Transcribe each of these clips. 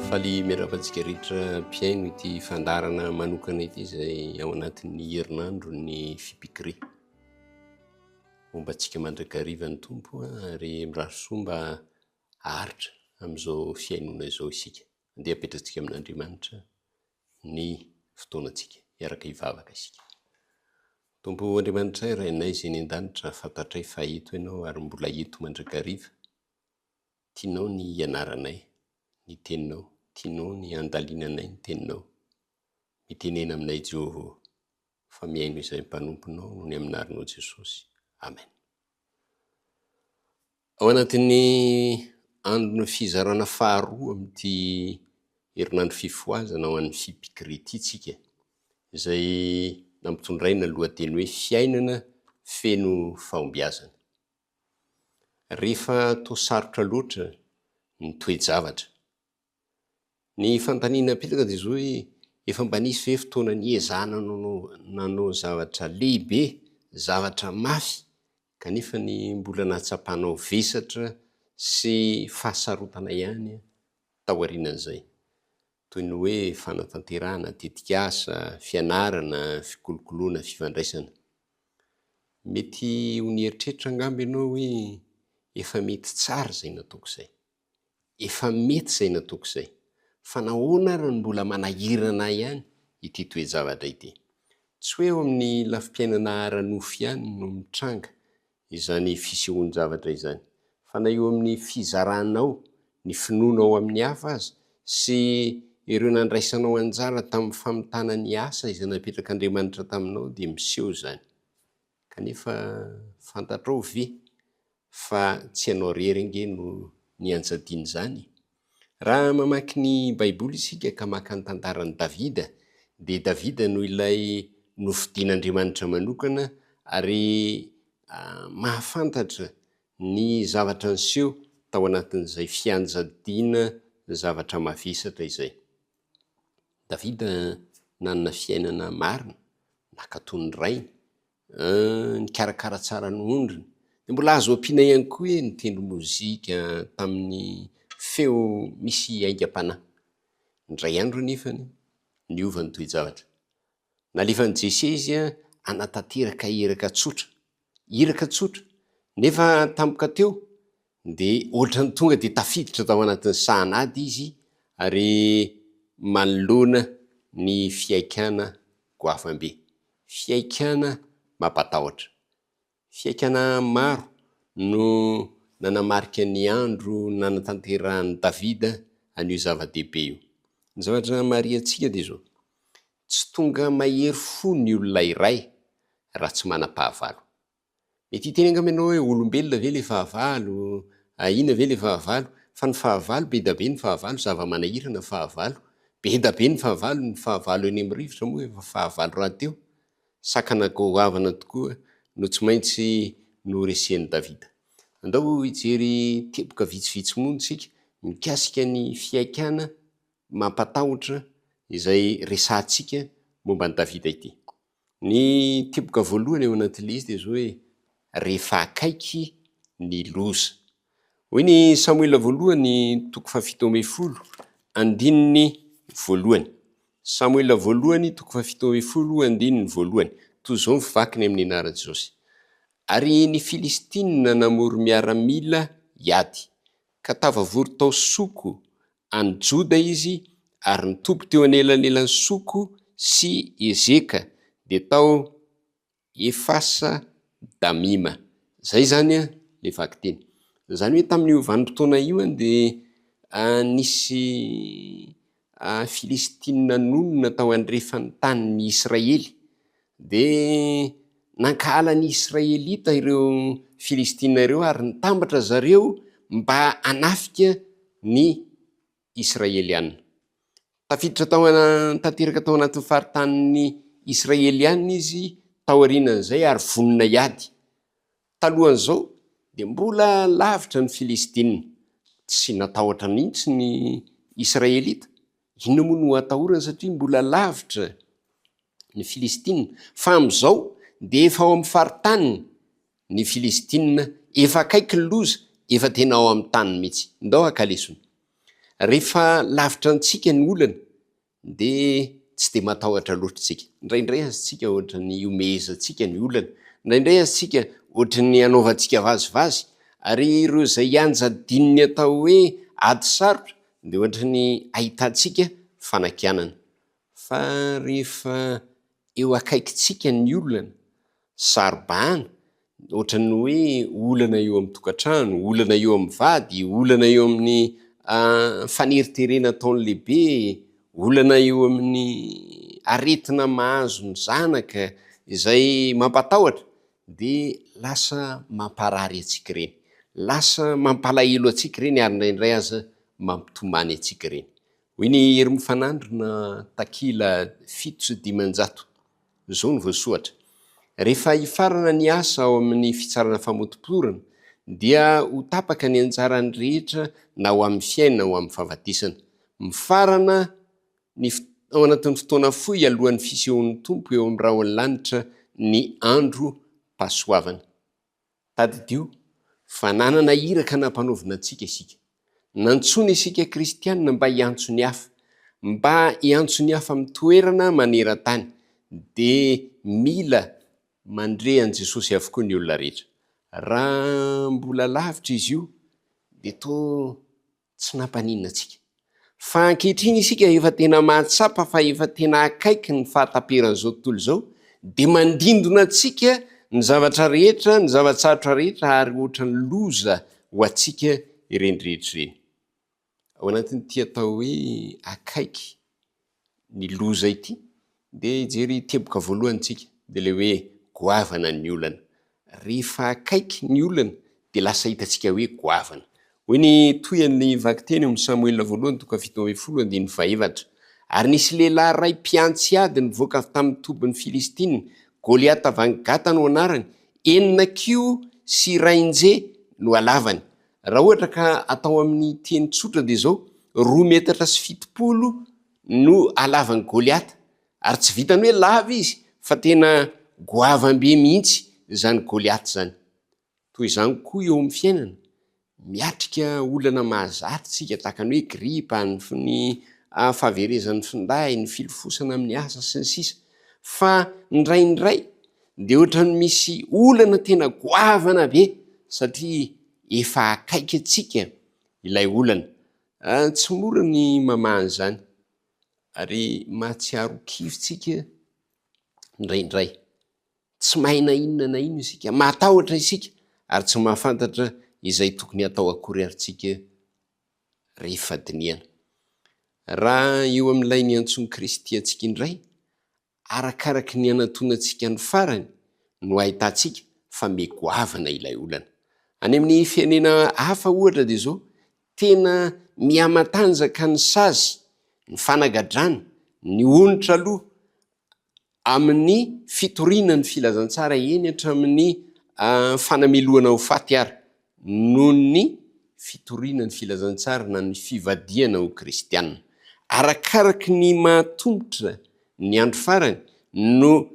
Faly miarahaba antsika rehetra mpihaino ity fandaharana manokana ity izay ao anatin'ny herinandro ny fipikri. Homba antsika mandrakariva ny Tompo ary mirary soa mba haharitra amin'izao fihainoana izao isika. Andeha apetrantsika amin'Andriamanitra ny fotoanantsika, hiaraka hivavaka isika. Tompo Andriamanitray, Rainay izay any an-danitra, fantatray fa eto Ianao ary mbola eto mandrakariva. Tianao ny hianaranay ny Teninao, tianao ny handalinanay ny Teninao. Mitenena aminay Jehovah ô! fa mihaino izay mpanomponao no ny amin'ny anaranao Jesosy. Amen. Ao anatin'ny andron'ny fizarana faharoa amin'ity herinandro fifohazana ho an'ny Fipikri ity tsika izay nampitondraina lohateny hoe fiainana feno fahombiazana. Rehefa toa sarotra loatra ny toe-javatra Ny fanontaniana apetraka dia izao hoe, efa mba nisy ve fotoana niezahana nanao zavatra lehibe, zavatra mafy, kanefa ny mbola nahatsapanao vesatra sy fahasarotana ihany taorianan'izay? Toy ny hoe fanatanterahana tetikasa, fianarana, fikolokoloana, fifandraisana. Mety ho nieritreritra angamba ianao hoe, efa mety tsara izay nataoko izay. Efa mety izay nataoko izay. Fa nahoana ary no mbola manahirana ahy ihany ity toe-javatra ity? Tsy hoe eo amin'ny lafim-piainana ara-nofo ihany no mitranga izany fisehoan-javatra izany, fa na eo amin'ny fizaranao ny finoana ao amin'ny hafa aza sy ireo nandraisanao anjara tamin'ny famitana ny asa izay napetrak'Andriamanitra taminao dia miseho izany. Kanefa fantatrao ve fa tsy ianao rery ange no nianjadiana izany? Raha mamaky ny Baiboly isika ka maka ny tantaran'i Davida, dia Davida no ilay nofidin'Andriamanitra manokana ary mahafantatra ny zavatra niseho tao anatin'izay fianjadiana zavatra mavesatra izay. Davida nanana fiainana marina, nankatò ny rainy, nikarakara tsara ny ondriny. Dia mbola azo ampiana ihany koa hoe nitendry mozika tamin'ny feo misy aingam-panahy. Indray andro anefa, niova ny toe-javatra. Nalefan'i Jesse izy hanatanteraka iraka tsotra, iraka tsotra, nefa tampoka teo dia ohatran'ny tonga dia tafiditra tao anatin'ny sahan'ady izy ary manoloana ny fihaikana goavambe, fihaikana mampatahotra. Fiaikana maro no nanamarika ny andro nanatanterahan'i Davida an'io zava-dehibe io. Ny zavatra namarihantsika dia izao, Tsy tonga mahery fo ny olona iray raha tsy manam-pahavalo. Mety hiteny angamba ianao hoe, Olombelona ve ilay fahavalo? Ahiana ve ilay fahavalo? Fa ny fahavalo, be dia be ny fahavalo, zava-manahirana ny fahavalo. Be dia be ny fahavalo, ny fahavalo eny amin'ny rivotra moa efa fahavalo rahateo. Sakana goavana tokoa no tsy maintsy noresian'i Davida. Andao hijery teboka vitsivitsy moa isika mikasika ny fihaikana mampatahotra izay resahantsika momba an'i Davida ity. Ny teboka voalohany ao anatin'ilay izy dia izao hoe, Rehefa akaiky ny loza. Hoy ny Samoela voalohany toko fahafito ambin'ny folo andininy voalohany. Samoela voalohany toko fahafito ambin'ny folo andininy voalohany. Toy izao ny vakiny amin'ny anaran'i Jesosy. Ary ny Filistina namory miaramila hiady, ka tafavory tao Soko any Joda izy, ary nitoby teo anelanelan'i Soko sy Ezeka, dia tao Efasa Damima. Izay izany ilay vakiteny. Izany hoe tamin'io vanim-potoana io dia nisy Filistina nonina tao andrefan'ny tanin'i Israely. Dia nankahala ny Israelita ireo Filistina ireo ary nitambatra ry zareo mba hanafika ny. Israeliana. Tafiditra tao tanteraka tao anatin'ny faritanin'ny Israeliana izy taorianan'izay ary vonona hiady. Talohan'izao dia mbola lavitra ny Filistina. Tsy natahotra mihitsy ny Israelita. Inona moa no hatahorany satria mbola lavitra ny Filistina. Fa amin'izao dia efa ao amin'ny faritaniny. Ny filistina efa akaiky ny loza efa tena ao amin'ny taniny mitsy ndao haka lesona rehefa lavitra antsika ny olana de tsy de matahotra loatra tsika ndraindray aza tsika ohatrany iomehezantsika ny olana ndraindray aza tsika ohatrany anaovantsika vazivazy ary ireo zay ianjy adinony atao hoe ady sarotra de ohatrany ahitantsika fanakianana Fa rehefa eo akaikintsika ny olana, saro-bahana, ohatran'ny hoe olana eo amin'ny tokantrano, olana eo amin'ny vady, olana eo amin'ny faneriterena ataon'ny lehibe, olana eo amin'ny aretina mahazo ny zanaka izay mampatahotra, dia lasa mamparary antsika ireny, lasa mampalahelo antsika ireny ary indraindray aza mampitomany antsika ireny. Hoy ny Herim Fanandrina, takila fito sy dimanjato. Izao no voasohatra, Rehefa hifarana ny asa ao amin' ny fitsarana famotoporana dia ho tapaka ny anjarany rehetra na ho amin' ny fiainana na ho amin' ny fahafatesana. Mifarana ny Ao anatin' ny fotoana fohy alohan' ny fisehoan' ny Tompo eo amin' ny rahon' ny lanitra ny andro pasoavana. Tadidio fa nanana iraka nampanaovina antsika isika. Nantsoina isika kristiana mba hiantso ny hafa. Mba hiantso ny hafa amin'ny toerana maneran-tany dia mila mandre an'i Jesosy avokoa ny olona rehetra. Raha mbola lavitra izy io dia toa Tsy nampaninona antsika. Fa ankehitriny isika efa tena mahatsapa fa efa tena akaiky ny fahataperan'izao tontolo izao, dia mandindona antsika ny zavatra rehetra, ny zava-tsarotra rehetra ary ohatran'ny loza ho antsika ireny rehetra ireny. Ao anatin'ity atao hoe akaiky ny loza ity dia hijery teboka voalohany tsika dia ilay hoe goavana ny olana. Rehefa akaiky ny olana dia lasa hitantsika hoe goavana. Hoy ny tohian'ny vakiteny ao amin'ny Samoela voalohany toko fahafito ambin'ny folo andininy fahaefatra, Ary nisy lehilahy iray mpiantsy ady nivoaka avy tamin'ny tobin'ny Filistina, Goliata van Gata no anarany, enina kiho sy iray nje no halavany. Raha ohatra ka atao amin'ny teny tsotra dia izao, roa metatra sy fitopolo no halavan'i Goliata, ary tsy vitan'ny hoe lava izy fa tena goavam-be mihitsy izany Goliata izany. Toy izany koa eo amin'ny fiainana, miatrika olana mahazatra isika tahaka ny hoe gripa, ny fahaverezan'ny finday, ny filofosana amin'ny asa sy ny sisa Fa indraindray dia ohatran'ny misy olana tena goavana be satria efa akaiky antsika ilay olana. Ah, tsy mora ny mamaha an'izany ary mahatsiaro kivy tsika indraindray. Tsy mahay na inona na inona isika, mahatahotra isika ary tsy mahafantatra izay tokony hatao akory ary tsika rehefa dinihana. Raha eo amin'ilay niantsoan'i Kristy antsika indray, Arakaraky ny anatonantsika ny farany no ahitantsika fa mey goavana ilay olana. Any amin'ny firenena hafa ohatra dia izao, tena mihamatanjaka ny sazy, ny fanagadrana, ny onitra aloha amin'ny fitoriana ny filazantsara eny hatramin'ny fanamelohana ho faty ary noho ny fitoriana ny filazantsara na ny fivadihana ho kristiana. Arakaraky ny maha-tomotra ny andro farany no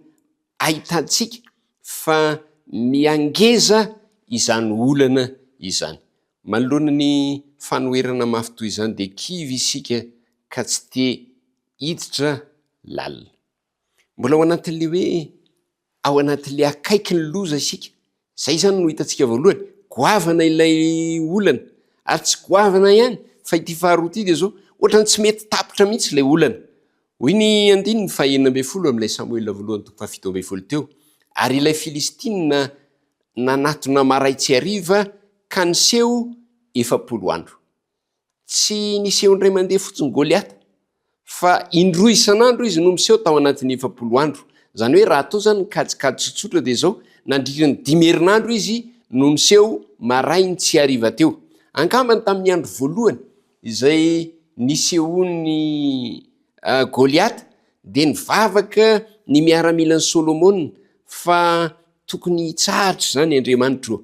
ahitantsika fa miha-ngeza izany olana izany. Manoloana ny fanoherana mafy toy izany dia kivy isika ka tsy te hiditra lalina. Mbola ao anatin'ilay hoe ao anatin'ilay akaiky ny loza isika. Izay izany no hitantsika voalohany. Goavana ilay olana ary tsy goavana ihany fa ity faharoa ity dia izao, ohatran'ny tsy mety tapitra mihitsy ilay olana. Hoy ny andininy fahenina ambin'ny folo amin'ilay Samoela voalohany toko fahafito ambin'ny folo teo, Ary ilay Filistina nanatona maray tsy hariva ka niseho efapolo andro. Tsy niseho indray mandeha fotsiny Goliata fa indroa isan'andro izy no miseho tao anatin'ny efapolo andro. Izany hoe raha atao izany ny kajikajy tsotsotra dia izao, nandritra ny dimy herinandro izy no niseho marainy tsy hariva teo. Angambany tamin'ny andro voalohany izay nisehoan'i Goliata dia nivavaka ny miaramilan'i Solomona fa tokony hitsahatra izany Andriamanitro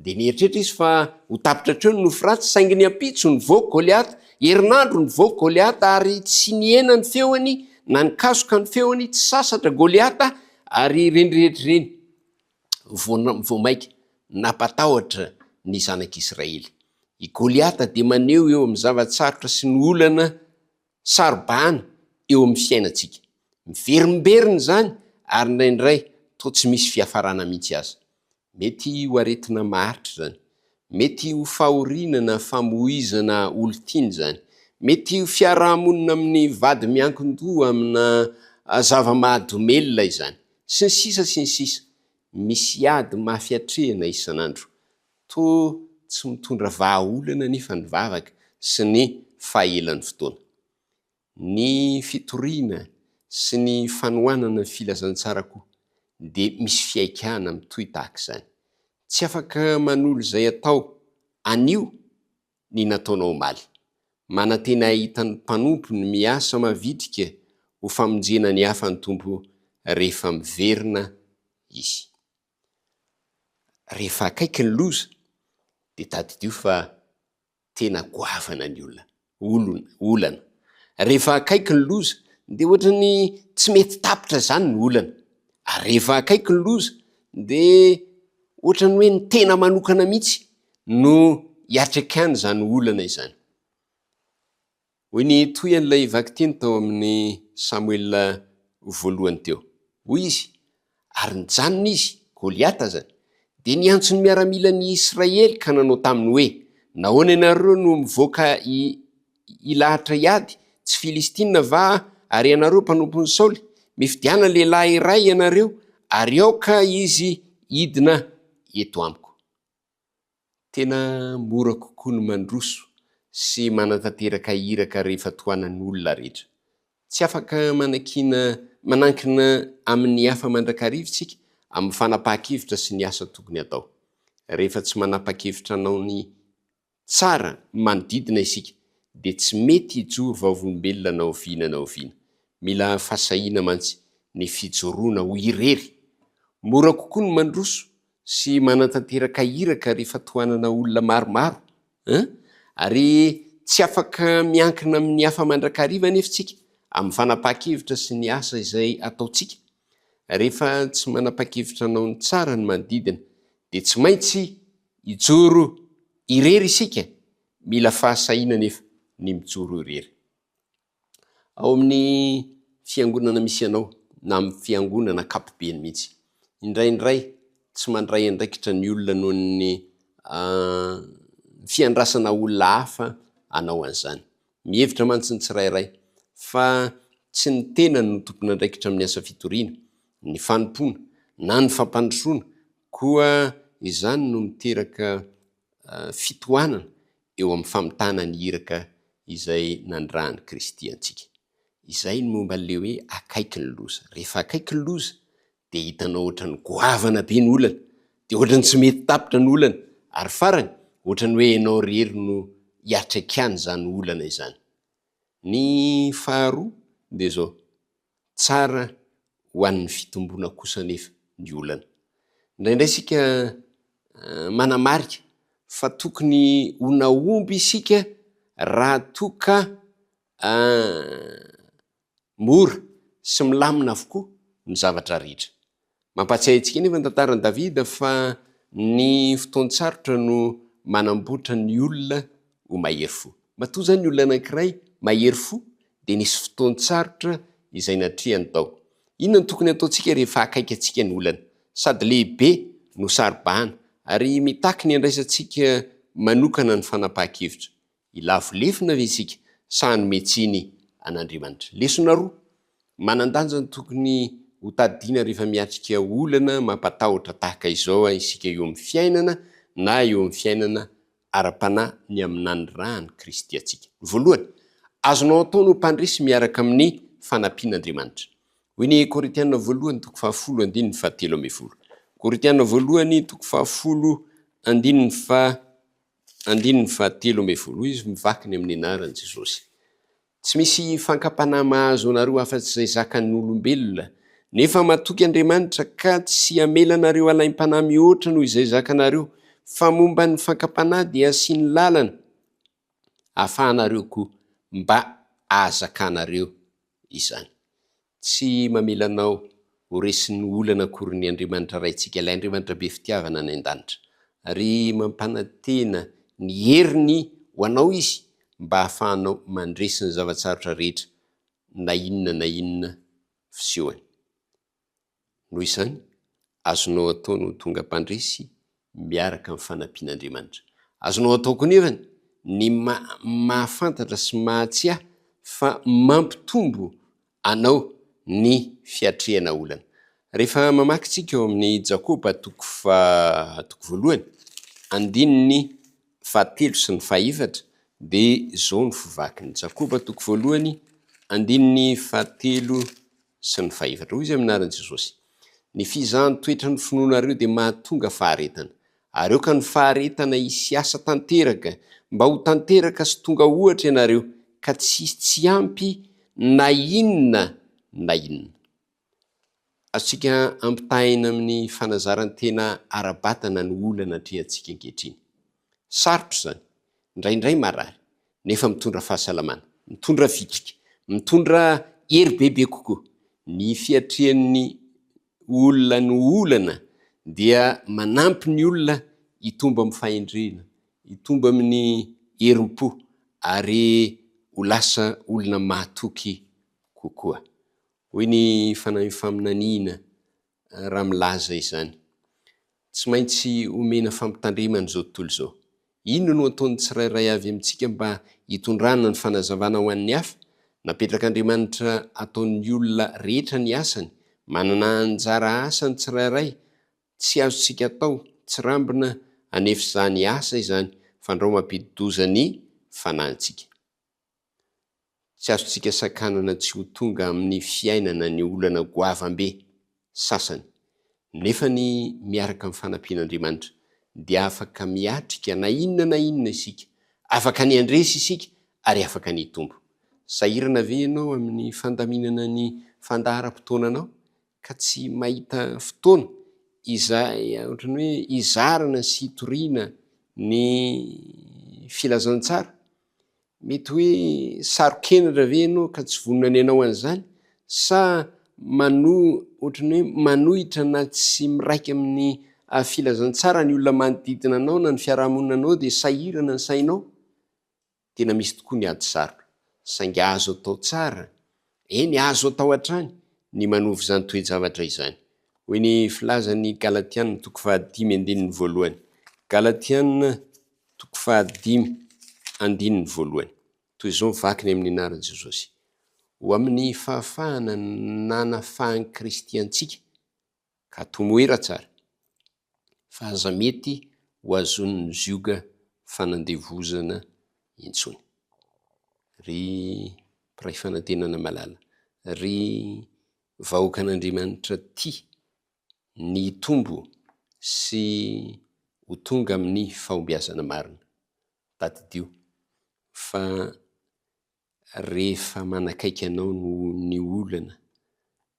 Dia nieritreritra izy fa ho tapitra hatreo ny nofy ratsy, saingy ny ampitso nivoaka Goliata, herinandro nivoaka Goliata, ary tsy nihena ny feony na nikasoka ny feony, tsy sasatra Goliata, ary ireny rehetra ireny vao, vao mainka nampatahotra ny zanak'Israely. I Goliata dia maneho eo amin'ny zava-tsarotra sy ny olana saro-bahana eo amin'ny fiainantsika. Miverimberina izany, ary indraindray toa tsy misy fiafarana mihitsy aza. Mety ho aretina maharitra izany. Mety ho fahoriana na famoizana olon-tiana izany. Mety ho fiaraha-monina amin'ny vady miankin-doha amina zava-mahadomelina izany. Sy ny sisa sy ny sisa. Misy ady mafy atrehina isan'andro. Toa tsy mitondra vahaolana anefa ny vavaka sy ny fahaelan'ny fotoana. Ny fitoriana sy ny fanohanana ny filazantsara koa dia misy fihaikana mitohy tahaka izany. Tsy afaka manolo izay atao anio ny nataonao omaly. Manantena hahita ny mpanompony miasa mavitrika ho famonjena ny hafa ny Tompo rehefa miverina Izy. Rehefa akaiky ny loza dia tadidio fa tena goavana ny olona, olona, olana. Rehefa akaiky ny loza dia ohatra ny tsy mety tapitra izany ny olana. Ary rehefa akaiky ny loza dia ohatra ny hoe ny tena manokana mihitsy no iatrekan'izany olana izany. Hoy ny tohian'ilay vakiteny tao amin'ny Samoela voalohany teo. Hoy izy, Ary nijanona izy, Goliata azany, dia niantso ny miaramilan'i Israely ka nanao taminy hoe, Nahoana ianareo no mivoaka hilahatra hiady? Tsy Filistina va àry ianareo, mpanompon'i Saoly? Mifidiana lehilahy iray ianareo, ary aoka izy hidina eto amiko. Tena mora kokoa ny mandroso sy manatanteraka iraka rehefa tohanan'olona rehetra. Tsy afaka manakiana manankina amin'ny hafa mandrakariva isika amin'ny fanapahan-kevitra sy ny asa tokony hatao. Rehefa tsy manapa-kevitra hanao ny tsara ny manodidina isika, dia tsy mety hijoro vavolombelona na oviana na oviana. Mila fahasahiana mantsy ny fijoroana ho irery. Mora kokoa ny mandroso sy manatanteraka iraka rehefa tohanana olona maromaro an! ary tsy afaka miankina amin'ny hafa mandrakariva anefa isika amin'ny fanapahan-kevitra sy ny asa izay ataontsika, rehefa tsy manapahan-kevitra hanao ny tsara ny manodidina dia tsy maintsy hijoro irery isika, mila fahasahiana anefa ny mijoro irery. Ao amin'ny fiangonana misy anao na amin'ny fiangonana ankapobeny mihitsy. Indraindray tsy mandray andraikitra ny olona noho ny fiandrasana olona hafa hanao an'izany. Mihevitra mantsy ny tsirairay fa tsy ny tenany no tompon'andraikitra amin'ny asa fitoriana, ny fanompoana na ny fampandrosoana koa izany no miteraka fitohanana eo amin'ny famitana ny iraka izay nandrahan'i Kristy antsika. Izay ny momba an'ilay hoe akaiky ny loza. Rehefa akaiky ny loza dia hitanao ohatran'ny goavana be ny olana, dia ohatran'ny tsy mety tapitra ny olana, ary farany, ohatran'ny hoe ianao irery no hiatraikan'izany olana izany. Ny faharoa dia izao. Tsara ho an'ny fitomboana kosa anefa ny olana. Indraindray isika manamarika fa tokony ho nahomby isika raha toa ka mora sy milamina avokoa ny zavatra rehetra. Mampahatsiahy antsika anefa ny tantaran'i Davida fa ny fotoan-tsarotra no manamboatra ny olona ho mahery fo. Matoa izany ny olona anankiray mahery fo dia nisy fotoan-tsarotra izay natrehany tao. Inona no tokony hataontsika rehefa akaiky antsika ny olana, sady lehibe no saro-bahana, ary mitaky ny handraisantsika manokana ny fanapahan-kevitra? Hilavo lefona ve isika sa hanome tsiny an'Andriamanitra? Lesona roa manan-danja no tokony hotadidiana rehefa miatrika olana mampatahotra tahaka izao isika eo amin'ny fiainana na eo amin'ny fiainana ara-panahy ny amin'ny nanirahan'i Kristy antsika. Voalohany, azonao atao ny ho mpandresy miaraka amin'ny fanampian'Andriamanitra. Hoy ny Korintiana Voalohany toko fahafolo andininy fahatelo ambin'ny folo. Korintiana Voalohany toko fahafolo andininy fahatelo Andininy faha telo ambin'ny folo Izy mivaky ny amin'ny anaran'i Jesosy. Tsy misy fankapanahy mahazo anareo afa-tsy izay zakan'ny olombelona, nefa matoky Andriamanitra ka tsy hamela anareo halaim-panahy mihoatra noho izay zakanareo, fa momba ny fankapanahy dia asiany lalana ahafahanareo koa mba ahazakanareo izany. Tsy mamela anao ho resin'ny olana akory ny Andriamanitra Raintsika, ilay Andriamanitra be fitiavana any an-danitra. Ary mampanantena ny heriny ho anao Izy mba hahafahanao mandresy ny zava-tsarotra rehetra, na inona na inona fisehoany. Noho izany, azonao atao ny ho tonga mpandresy miaraka amin'ny fanampian'Andriamanitra. Azonao atao koa anefa ny mahafantatra sy mahatsiahy fa mampitombo anao ny fiatrehana olana. Rehefa mamaky isika ao amin'ny Jakoba toko faha, toko voalohany, andininy fahatelo sy ny fahefatra dia izao no fivakin'i Jakoba, toko voalohany, andininy fahatelo, sy ny fahefatra. Hoy Izy amin' ny anaran' i Jesosy, Ny fizahan' toetra ny finoanareo dia mahatonga faharetana. Ary aoka ny faharetana hisy hiasa tanteraka, mba ho tanteraka sy tonga ohatra ianareo, ka tsy hisy tsy ampy na inona na inona. Azontsika ampitahaina amin' ny fanazaran-tena ara-batana ny olana atrehantsika ankehitriny. Sarotra izany. Indraindray marary, nefa mitondra fahasalamana, mitondra vitrika, mitondra hery bebe kokoa. Ny fiatrehan'ny olona ny olana dia manampy ny olona hitombo amin'ny fahendrena, hitombo amin'ny herim-po ary ho lasa olona mahatoky kokoa. Hoy ny Fanahin'ny Faminaniana, raha milaza izany. Tsy maintsy omena fampitandremana izao tontolo izao. Inona no ataon'ny tsirairay avy amintsika mba hitondrana ny fanazavana ho an'ny hafa? Napetrak'Andriamanitra ataon'ny olona rehetra ny asany. Manana anjara asa ny tsirairay, tsy azontsika atao tsirambina anefa izany asa izany, fandrao mampidi-doza ny fanahintsika. Tsy azontsika sakanana tsy ho tonga amin'ny fiainana ny olana goavambe sasany, nefa ny miaraka amin'ny fanampian'Andriamanitra dia afaka miatrika na inona na inona isika, afaka ny handresy isika ary afaka ny hitombo. Sahirana ve ianao amin'ny fandaminana ny fandaharam-potoananao ka tsy mahita fotoana izay ohatran'ny hoe hizarana sy hitoriana ny filazantsara? Mety hoe saro-kenatra ve ianao ka tsy vonona ny hanao an'izany? Sa ohatran'ny hoe manohitra na tsy miraika amin'ny filazantsara ny olona manodidina anao na ny fiarahamonina anao dia sahirana ny sainao? Tena misy tokoa ny ady sarotra, saingy azo atao tsara Eny, azo atao hatrany ny manovo izany toe-javatra izany. Hoy ny filazan'ny Galatiana toko fahadimy andininy voalohany, Galatiana toko fahadimy andininy voalohany, toy izao ny vakiny amin'ny anaran'i Jesosy, Ho amin'ny fahafahana nanafahan'i Kristy antsika ka tomoera tsara fa aza mety ho azon'ny zioga fanandevozana intsony ry mpiray fanantenana malala ry vahoakan'Andriamanitra tia ny hitombo sy ho tonga amin'ny fahombiazana marina. Tadidio fa Rehefa manakaiky anao ny olana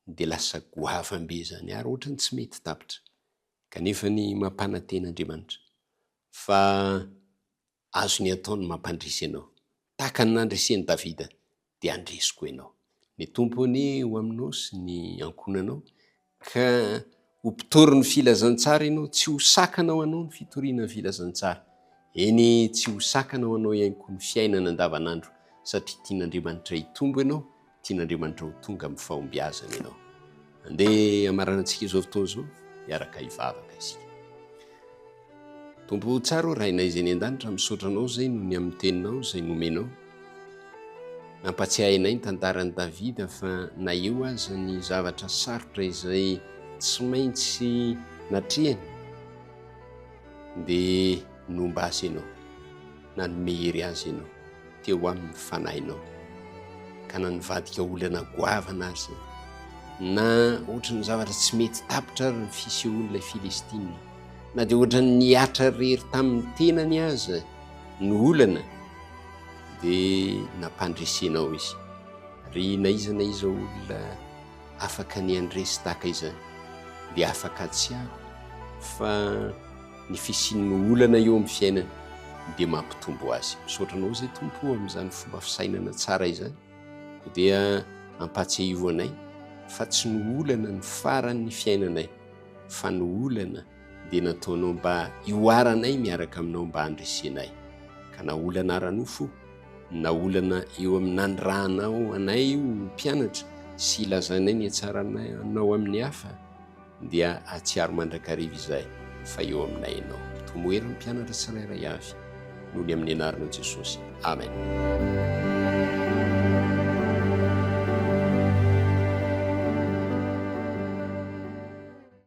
dia lasa goavam be zany ary ohatrany tsy mety tapitra kanefa ny mampanantena Andriamanitra fa azony atao ny mampandresy anao tahaka ny nandreseny Davida dia handresiko enao ny Tompo anie ho aminao sy ny ankohonanao Ka ho mpitory ny filazantsara ianao, tsy ho sakana ho anao ny fitoriana ny filazantsara. Eny, tsy ho sakana ho anao ihany koa ny fiainana andavanandro, satria tian'Andriamanitra hitombo ianao, tian'Andriamanitra ho tonga amin'ny fahombiazana ianao. Andeha hamaranantsika izao fotoana izao, miaraka hivavaka isika. Tompo tsara ô Rainay izay eny an-danitra misaotra Anao izay noho ny amin'ny teninao izay nomenao. Nampatsiahy anay ny tantaran'i Davida fa na eo aza ny zavatra sarotra izay tsy maintsy natrehany dia nomba azy Ianao. nanome hery azy ianao teo amin'ny fanahinao ka na nivadika olana goavana aza na ohatran'ny zavatra tsy mety tapitra ary ny fisehoan'ilay Filistina na dia ohatran'ny nihatra rery tamin'ny tenany aza ny olana dia nampandresenao izy ry na iza na iza olona afaka ny andresy tahaka izany dia afaka tsy aho fa ny fisian'ny olana eo amin'ny fiainany dia mampitombo azy. Misaotra anao izay Tompo o amin'izany fomba fisainana tsara izany. Koa dia ampahatsiahivo anay fa tsy ny olana ny faran'ny fiainanay fa ny olana dia nataonao mba hihoaranay miaraka aminao mba handresenay. Ka na olana ara-nofo na olana eo amin'ny nanirahanao anay io mpianatra sy ilazanay ny hatsaranao amin'ny hafa Dia hahatsiaro mandrakariva izay fa eo aminay Ianao. Toa moa ery ny mpianatra tsirairay avy, noho ny amin'ny Anaranao Jesosy. Amen.